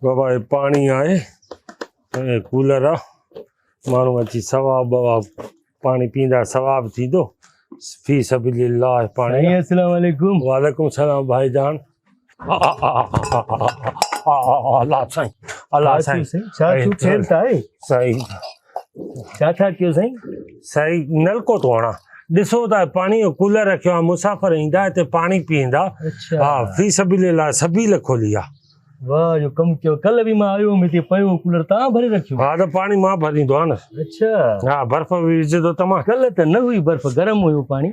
بابا هي پاڻي آهي ۽ ڪولر آ ماڻهو اچي ثواب بواب پاڻي پيندا ثواب ٿيندو في سبيل الله پاڻي السلام عليڪم وعليڪم السلام ڀائي جان الله سائين الله سائين سائين ڇا ڇا ڪيو سائين؟ سائين نلڪو ٿو هڻان ڏسو ته پاڻي جو ڪولر رکيو آهي مسافر ايندا هتي پاڻي پيئندا ها في سبيل الله سبيل کولي آ واهه جو ڪم ڪيو ڪل به مان آيو هوم هتي پيو ڪولر تان ڀري رکيو ها ته پاڻي مان ڀريندو آ نه اچھا ها برف به وجھي ٿو ته مان ڪل ته نه هئي برف گرم هيو پاڻي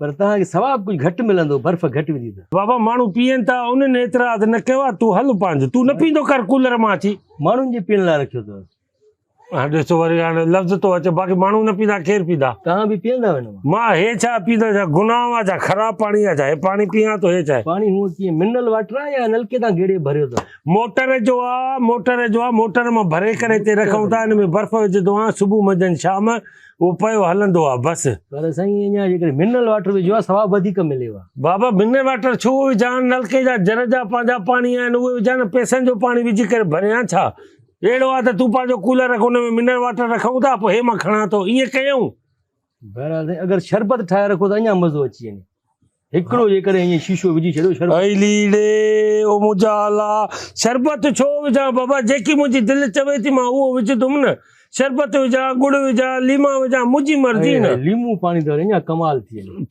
پر توهان کي ثواب ڪجهه گهٽ ملندو برف گهٽ وجهي ته بابا ماڻهو پيئن ٿا انهن اعتراض نه ڪيو آ تون هل پنهنجو تون نه پيندو ڪر ڪولر مان اچي ماڻهن جي پيئن لاء رکيو اٿو هاڻ ڏسو وري هاڻ لفظ ٿو اچي باقي ماڻهو نه پيندا ڪير پيندا توهان به پيئندا آهيو نه مان هي ڇا پيندا ڇا گناهه آ ڇا خراب پاڻي آ ڇا هي پاڻي پيان ٿو هي ڇا پاڻي هو ڪي منرل واٽر آ يا نلڪي تان گيڙي ڀريو ٿو موٽر جو آ موٽر جو آ موٽر مان ڀري ڪري تي رکون ٿا ان ۾ برف وجهندو آ صبح منجهن شام اهو پيو هلندو آ بس. پر سائين اڃا جيڪڏهن منرل واٽر وجهيو ها ثواب وڌيڪ مليو ها. بابا منرل واٽر ڇو وجهان نلڪي جا جر جا پنهنجا پاڻي آهن اهي وجهان نه پئسن جو پاڻي وجهي ڪري ڀريان ڇا اهڙو آ ته تون پنهنجو ڪولر رک ان ۾ منرل واٽر رکون ٿا پوء هي مان کڻان ٿو ائين ڪيون. بهرحال سائين اگر شربت ٺاهي رکو ته اڃا مزو اچي وڃي. هڪڙو جيڪڏهن ائين شيشو وجهي ڇڏيو شربت. اي ليڙي او منهنجا آلا شربت ڇو وجهان بابا جيڪي منهنجي دل چوي ٿي مان اهو وجهندم نه شربت وجهان ڳڙ وجهان ليما وجهان منهنجي مرضي هي نه. هي ليمون پاڻي ته اڃا ڪمال ٿي هلي.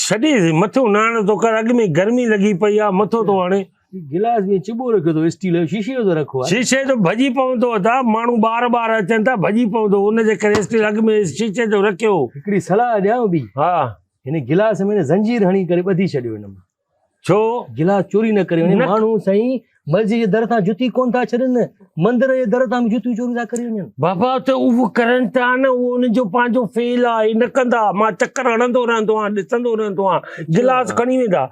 ڇڏي مٿو ناڻ ٿو ڪر اڳ ۾ گرمي لڳي پئي آ مٿو ٿو هڻي. هي گلاس به چٻو رکيو اٿو اسٽيل جو شيشي جو ته رکو آ. شيشي جو ڀڄي پوندو ادا ماڻهو ٻار ٻار اچن ٿا ڀڄي پوندو ان جي ڪري اسٽيل اڳ ۾ شيشي جو رکيو. هڪڙي صلاح ڏيانو ٻي. ها. هن گلاس ۾ زنجير هڻي ڪري ٻڌي ڇڏيو هن مان ڇو گلاس چوري نه ڪري وڃن ماڻهو سائين مسجد جي در تان جتي ڪون ٿا ڇڏن مندر جي در تان جتيون چوري ٿا ڪري وڃن بابا ته اهو ڪرن ٿا نه اهو انهن جو پنهنجو فيل آهي نه ڪندا مان چڪر هڻندو رهندو آهيان ڏسندو رهندو آهيان گلاس کڻي ويندا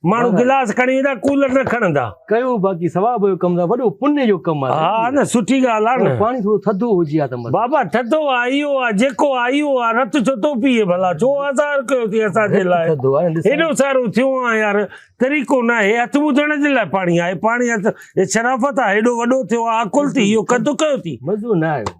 ماڻهو گلاس کڻي ويندا ڪولر نه کڻندا ڪيو باقي ثواب جو ڪم وڏو پن جو ڪم آهي ها نه سٺي ڳالهه آهي نه پاڻي ٿورو ٿڌو هجي ها ته بابا ٿڌو آهي اهو آهي جيڪو آهي اهو آهي رت ڇو ٿو پيئي ڀلا ڇو آزار ڪيو ٿي اسان جي لاء ٿڌو آهي هيڏو سارو ٿيو آهي يار طريقو نه آهي هٿ ٻڌڻ جي لاء پاڻي آهي پاڻي هٿ شرافت آهي هيڏو وڏو ٿيو آهي عقل ٿي اهو ڪڌ ڪيو ٿي مزو نه آيو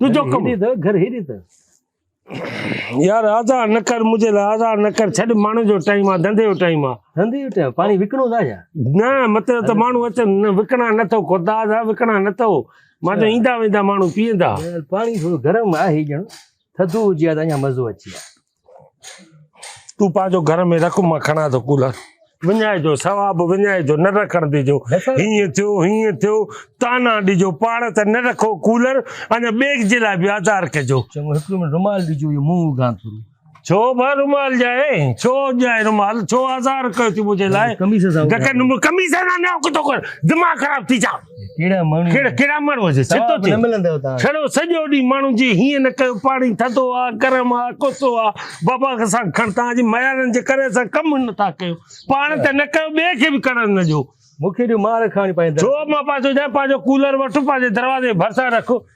تنهنجو ڪم گهر هيڏي ته يار آزا نه کر مجھے آزا نه کر ڇڏ ماڻهو جو ٽائيم آ ڌنڌي جو ٽائيم آ ڌنڌي جو ٽائيم پاڻي وڪڻو ٿا يا نه مطلب ته ماڻهو اچن نه وڪڻا نه ٿو خدا جا وڪڻا نه ٿو مان جو ايندا ويندا ماڻهو پيئندا پاڻي ٿورو گرم آهي ڄڻ ٿڌو هجي ها ته اڃا مزو اچي ها تون پنهنجو گهر ۾ رک مان کڻان ٿو ڪولر وڃائي جو ثواب وڃائي جو نه رکڻ ڏجو هيئن ٿيو هيئن ٿيو تانا ڏجو پاڙ ته نه رکو ڪولر اڃا ٻيڪ جي لاء بي آزار ڪجو چڱو هڪ منٽ رومال ڏجو اهو منهن اگهان ٿو ڇو ڀا رومال ڄائي ڇو ڄائي رومال ڇو آزار ڪيو ٿي منهنجي لاء ڪميس سان ڪميس سان نه ڪٿو ڪر دماغ خراب ٿي جا ڪهڙا ماڻهو جي ڇتو ٿيو ڇڙو سڄو ڏينهن ماڻهو جي هيئن نه ڪيو پاڻي ٿڌو آ گرم آ ڪوسو آ بابا سان کڻ تان جي ميارن جي ڪري سان ڪم نه ٿا ڪيو پاڻ ته نه ڪيو ٻي کي به ڪرڻ نه جو مونکي جو مار کاڻي پايندو جو مان پاسو جا پاسو ڪولر وٺ پاسو دروازي ڀرسان رکو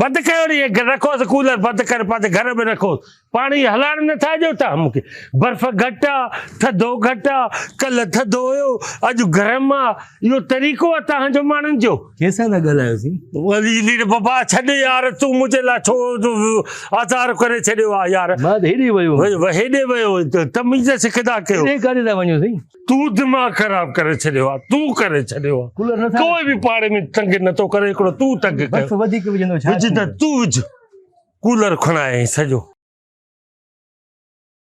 بند ڪيو ني رکوس ڪولر بند ڪري پنهنجي گهر ۾ رکوس پاڻي هلائڻ نٿا ڏيو تها مونکي برف گهٽ آ ٿڌو گهٽ آ ڪل ٿڌو هيو اڄ گرم آ اهو طريقو آ تها جو ماڻهن جو ڪيسان ٿا ڳالهايو سين ولي لير بابا ڇڏ يار تو منهنجي لا ڇو آزار ڪري ڇڏيو آ يار ما هيڏي ويو هيڏي ويو تميز سکدا ڪيو هيڏي ڪاڏي ٿا وڃو سين تون دماغ خراب ڪري ڇڏيو آ تون ڪري ڇڏيو آ ڪوئي به پاڙي ۾ تنگ نه ٿو ڪري هڪڙو تون تنگ ڪر بس وڌيڪ وجهندو ڇا وجهه ته تون وجهه ڪولر کڻائين سڄو